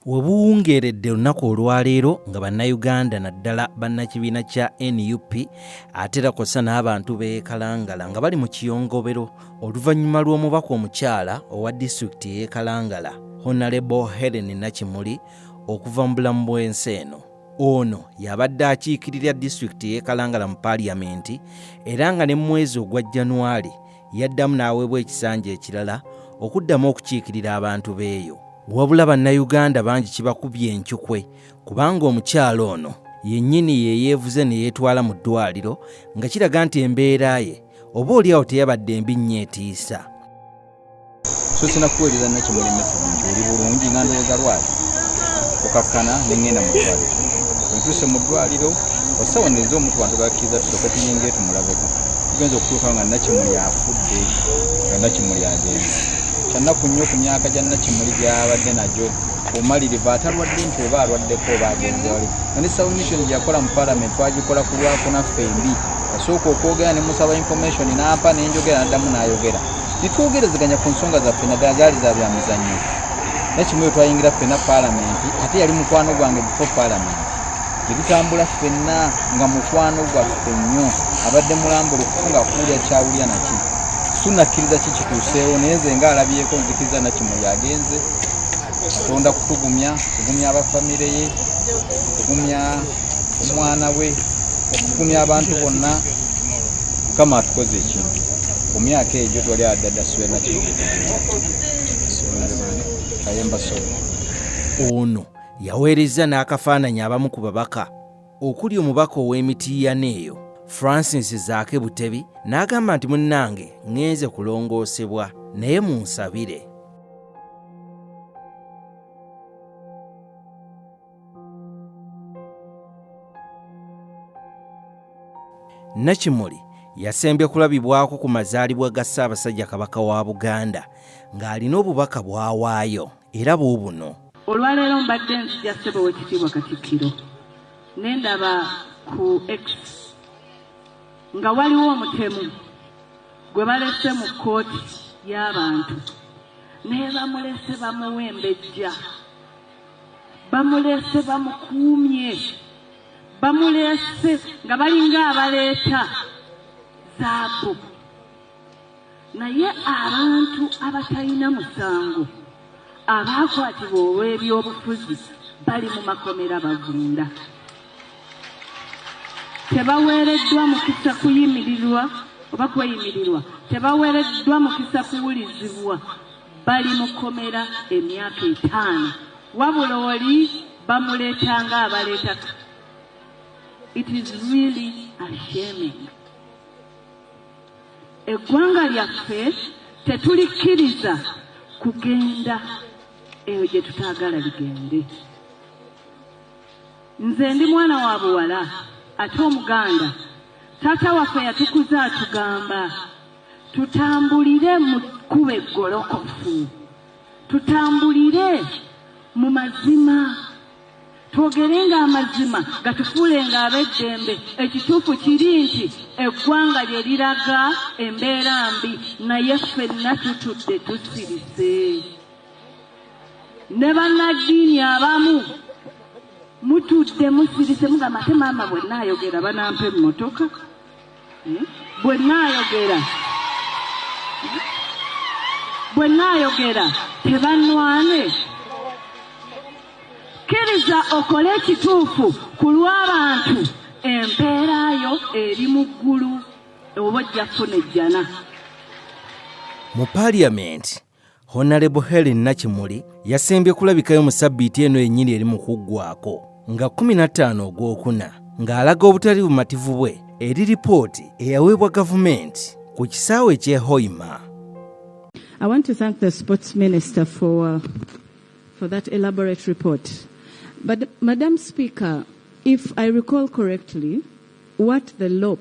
Webuwungeeredde olunaku olwaleero nga bannayuganda naddala bannakibiina kya nup ate era kw'ossa n'abantu b'ekalangala nga bali mu kiyongobero oluvannyuma lw'omubaka omukyala owa disitulikiti ey'ekalangala honalebo helen nakimuli okuva mu bulamu bw'ensi eno ono yabadde akiikirira disitulikiti ey'ekalangala mu paaliyamenti era nga ne mu mwezi ogwa januwali Yaddamu n'aweebwa ekisanja ekirala okuddamu okukiikirira abantu b'eyo. Wabula Bannayuganda bangi kibakubye encukwe kubanga omukyala ono yennyini ye yeevuze ne yeetwala mu ddwaliro nga kiraga nti embeera ye oba olyawo teyabadde mbi nnyo etiisa. so sinakuweereza nakimulemesa oli bulungi nga ndowooza lwaki okakkana nengenda mu ddwaliro wetuuse mu ddwaliro osawo neza omuntu bantu bakkiriza tusooke tuyinga etumulabeko tugenza okutuuka nga nakimuli afudde nga nakimuli agenda kyannaku nnyo ku myaka gya nakimuli gyabadde nagyo omalirivu atalwadde nti oba alwaddeko oba agenze wali nga ne submission gyeyakola mu parliament twagikola ku lwakunaffe embi yasooka okwogera ne musaba information n'ampa nenjogera naddamu n'ayogera ne twogerezeganya ku nsonga zaffe naddala zaali za bya mizannyo naye kimu yo twayingira ffenna paalamenti ate yali mukwano gwange bifo paalamenti ne tutambula ffenna nga mukwano gwaffe nnyo abadde mulambula okufunga akuwulya kyawulya naki sunakkiriza ki kituuseewo naye nze nga alabyeko nzikiriza nakimuli agenze katonda kutugumya kugumya abafamire ye kugumya omwana we okugumya abantu bonna mukama atukoze ekintu ku myaka egyo twali adada swena kayemba so ono yaweerezza n'akafaananyi abamu ku babaka okuli omubaka ow'emitiiyana eyo francis zaake butebi n'agamba nti munnange ŋŋenze kulongoosebwa naye munsabire Nakimuli yasembye kulabibwako ku mazaalibwa ga Ssaabasajja Kabaka wa Buganda ng'alina obubaka bw'awaayo era buubuno. Olwaleero mbadde nzija ssebo w'ekitiibwa Katikkiro ne ndaba ku X nga waliwo omutemu gwe balese mu kkooti y'abantu nebamulese bamuwa embejja bamulese bamukuumye bamulese nga balinga abaleeta zaabu naye abantu abatalina musango abaakwatibwa olw'ebyobufuzi bali mu makomera bagunda tebaweereddwa mukisa kuyimirirwa oba kweyimirirwa tebaweereddwa mukisa kuwulizibwa Bali mu komera emyaka etaano wabula oli bamuleta nga abaleta it is really a shaming. Eggwanga lyaffe tetulikkiriza kugenda eyo gye tutaagala ligende. Nze ndi mwana wa buwala ate Omuganda, taata waffe yatukuza atugamba tutambulire mu kkubo eggolokofu tutambulire mu mazima twogerenga amazima gatufuulenga ab'eddembe ekituufu kiri nti eggwanga lye liraga embeera mbi naye ffenna tutudde tusirise ne bannaddiini abamu mutudde musirise mugamba ate maama bwenna ayogera banampa emmotoka bwe nnaayogera bwe nnaayogera tebannwane kkiriza okole ekituufu ku lw'abantu empeera yo eri mu ggulu oba ojja kufuna ejjana mu paliyamenti honalebo helen nakimuli yasembye kulabikayo mu sabbiiti eno yennyini eri mu kuggwaako nga 15 ogwokuna ng'alaga obutali bumativu bwe eri lipooti eyaweebwa gavumenti ku kisaawe eky'e hoima I want to thank the sports minister for, uh, for that elaborate report. But, Madam Speaker, if I recall correctly, what the LOP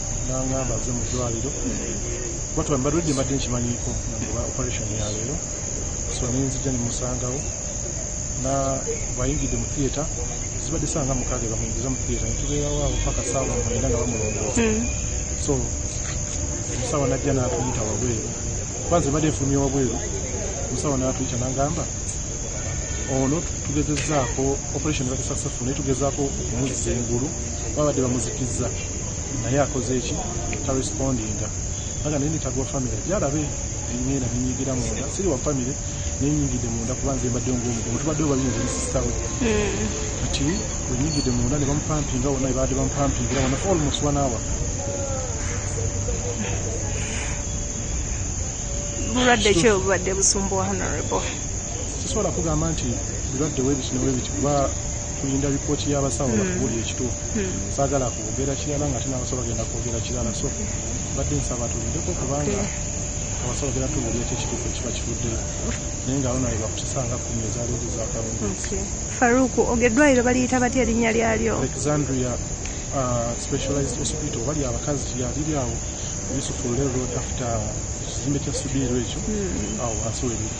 nangamba aze mu ddwaliro kuba tuba mbaludde mbadde nkimanyiiko nagoba operation ya leero so nenzija nemusangawo na bwayingidde mu theatre zibadde saa nga mukaaga bamuyingiza mu theatre netubeerawo awo paka saawa mwenda nga bamulongoosa hmm. so omusawa najja natuyita wabweru kuba nze mbadde nfulumye wabweru omusawa natuyita nangamba ono tugezezaako operation ebadde successful naye tugezaako okumuzza engulu babadde bamuzikizza naye akoze eki tarespondinga aga naye nitagwa famire jarabe engenda nenyigira munda siri wa famire nenyingidde munda kuba nze mbadde ngaomugomo tubadde obabinze nesisitawe hmm. kati wenyingidde munda nebamupampinga wona ebadde bamupampingira wona almost one hour bulwadde ki obubadde busumbuwa honorable sisobola kugamba nti birwadde webiti newebiti kuba tulinda lipooti y'abasawo hmm. bakubuli ekituufu hmm. saagala kwogera kirala nga tinabasawo bagenda kwogera kirala so badde nsaba tulindeko kubanga abasawo bagenda tubuli ekyo ekituufu ekiba kivuddeyo naye nga aona webakutusanga kumi ezaleero zakalungi faruku ogeddwaliro baliyita batya erinnya lyalyo alexandria uh, specialized hospital bali abakazi yaliri awo yusufu lero after ekizimbe kya subiiro ekyo hmm. awo wansi webiri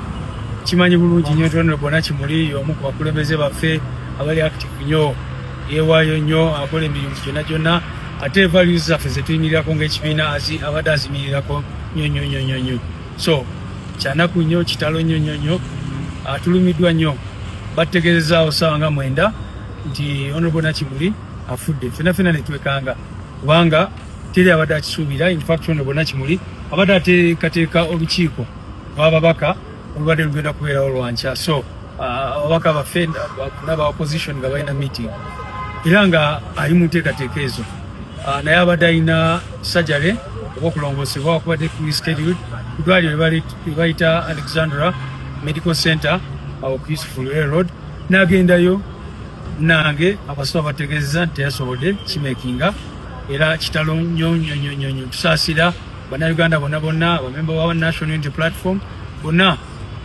kimanyi bulungi nyo tonero bona kimuli yomu ku bakulembeze baffe abali active nyo yewayo nyo akola emirimu gyona gyona ate values zaffe zetuyimirirako ngaekibiina abadde azimirirako nyo nyo nyo nyo nyo so kyanaku nyo kitalo nyo nyo nyo atulumiddwa ah, nyo battegeezezaawo saawa nga mwenda nti honorable nakimuli afudde fena fena netwekanga kubanga teri abadde akisuubira infact honorable nakimuli abadde ateekateeka olukiiko ababaka olubadde lugenda kubeerawo lwankya so ah, ababaka baffe naba opposition nga balina meeting era nga ali mu nteekateeka ezo ah, naye abadde alina sajale oba okulongosebwa wakubadde rescheduled kudwaliro lwebayita alexandra medical center ah, ku useful road nagendayo nange abasoma bategeeza nti teyasobodde kimekinga era kitalo nyonyonyonyonyo tusaasira bannayuganda bonna bonna abamemba wa national unity platform bonna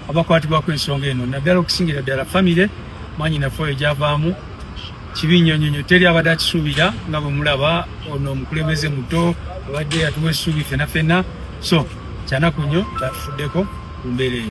abakwatibwako ensonga eno naddala okusingira ddala famire manyi nafe oyo gyavaamu kibi nnyo nnyo nnyo teri abadde akisuubira nga bwe mulaba ono omukulembeze muto abadde atuwa essuubi fena fena so kyanaku nnyo tatufuddeko ku mbeera eyo